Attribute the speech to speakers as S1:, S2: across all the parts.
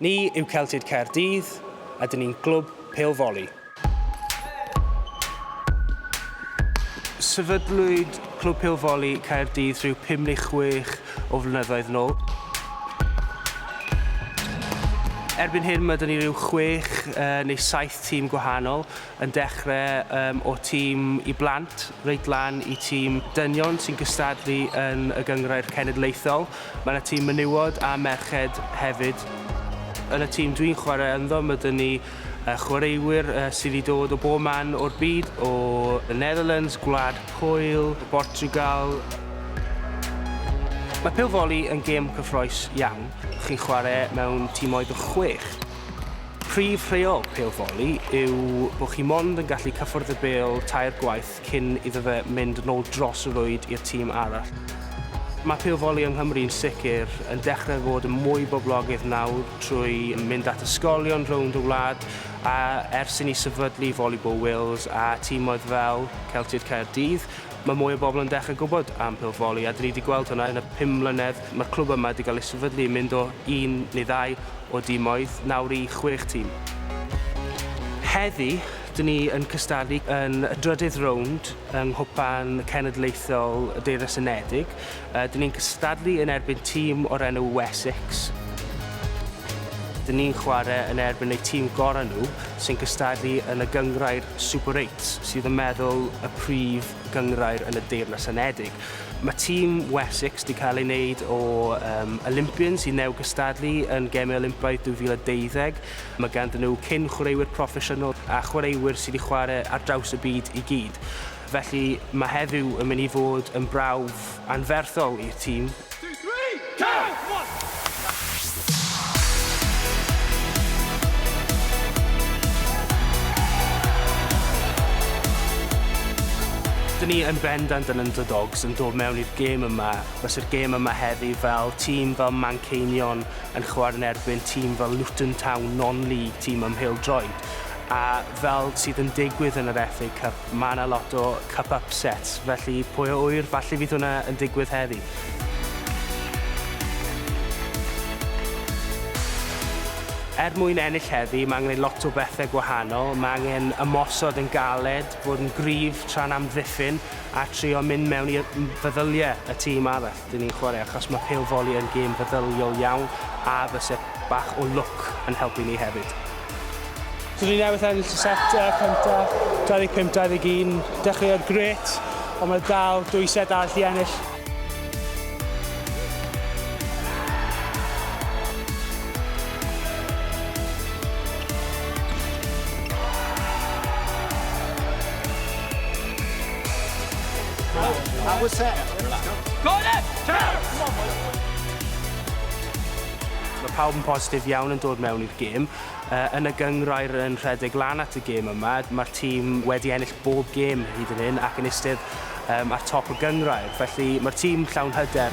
S1: Ni yw Celtiaid Caerdydd, a dyn ni'n glwb pêl foli. Sefydlwyd Clwb Pêl Foli Caerdydd rhyw pum neu chwech o flynyddoedd yn ôl. Erbyn hyn mae dyn ni rhyw chwech neu saith tîm gwahanol yn dechrau um, o tîm i blant reit lan i tîm dynion sy'n gystadlu yn y gynghrair cenedlaethol. Mae yna tîm menywod a merched hefyd. Yn y tîm dwi'n chwarae ynddo, mae dyn ni uh, chwaraewyr uh, sydd wedi dod o bob man o'r byd, o y Netherlands, Gwlad Pwyl, Portugal, Mae pêl foli yn gêm cyffroes iawn. Chi'n chwarae mewn tîmoedd o chwech. Prif rheol pêl foli yw bod chi mond yn gallu cyffwrdd y bêl tair gwaith cyn iddo fe mynd yn ôl dros y rwyd i'r tîm arall. Mae pêl foli yng Nghymru yn sicr yn dechrau fod yn mwy boblogydd nawr trwy mynd at ysgolion rownd y wlad a ers i ni sefydlu Volleyball Wales a tîmoedd fel Celtied Caerdydd Mae mwy o bobl yn dechrau gwybod am Pil Foli a dyn ni wedi gweld hwnna yn y pum mlynedd mae'r clwb yma wedi cael ei sefydlu, mynd o un neu ddau o dimoedd nawr i chwech tîm. Heddi, dyn ni yn cystadlu yn y drydydd rownd yng Nghwpan Cenedlaethol y Deyrnas Unedig. Dyn ni'n cystadlu yn erbyn tîm o'r enw Wessex. Dyn ni'n chwarae yn erbyn eu tîm gorau nhw, sy'n cystadlu yn y gynghrair Super Eight, sydd yn meddwl y prif gynghrair yn y Deyrnas Unedig. Mae tîm Wessex wedi cael ei wneud o um, Olympians sy'n new gystadlu yn Gemau Olympaidd 2012. Mae ganddyn nhw cyn chwaraewyr proffesiynol a chwaraewyr sydd wedi chwarae ar draws y byd i gyd. Felly, mae heddiw yn mynd i fod yn brawf anferthol i'r tîm. Dyn ni yn bendant yn underdogs yn dod mewn i'r gêm yma. Byse'r gêm yma heddi fel tîm fel Manceinion yn chwarae yn erbyn tîm fel Luton Town, non-league tîm ym Mhêl-droed, a fel sydd yn digwydd yn yr FA Cup, Mae 'na lot o cup upsets, felly pwy a ŵyr, falle fydd hwnna yn digwydd heddi. Er mwyn ennill heddi, mae angen lot o bethe gwahanol, mae angen ymosod yn galed, bod yn gryf tra'n amddiffyn a trio mynd mewn i feddylie y tîm arall. Dyn ni'n chwarae achos mae pêl foli yn gêm feddyliol iawn a fyse bach o lwc yn helpu ni hefyd. Dyn ni newydd ennill y set cyntaf, 25-21. Dechreuodd grêt, ond mae dal dwy set arall i ennill.
S2: That was set. Go
S3: on then!
S1: Mae pawb yn positif iawn yn dod mewn i'r gêm. Yn y gynghrair yn rhedeg lan at y gêm yma, mae'r tîm wedi ennill bob gêm hyd yn hyn ac yn eistedd ar top y gynghrair. Felly mae'r tîm llawn hyder.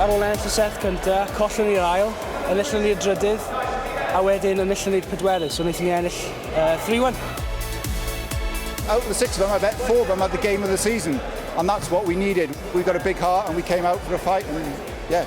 S1: Ar ôl ennill y set cynta, collon ni'r ail, enillon ni'r drydydd, a wedyn enillon ni'r pedwerydd, so wnaethon ni ennill uh, 3-1. Out
S2: of the six of them, I bet four of them had the game of the season, and that's what we needed. We got a big heart and we came out for a fight, and yeah.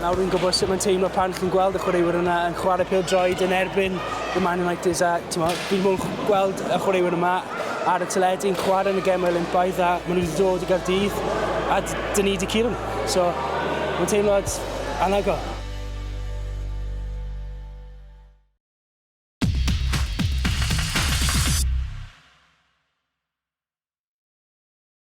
S1: Nawr rwy'n gwybod sut mae'n teimlo pan chi'n gweld y chwaraewyr yna yn chwarae pêl-droed yn erbyn y Man United a timod, fi ddim yn gweld y chwaraewyr yma ar y teledu yn chwarae yn y Gemau Olympaidd a maen nhw wedi dod i Gaerdydd a dyn ni wedi curo nhw. So, mae'n teimlad anhygoel.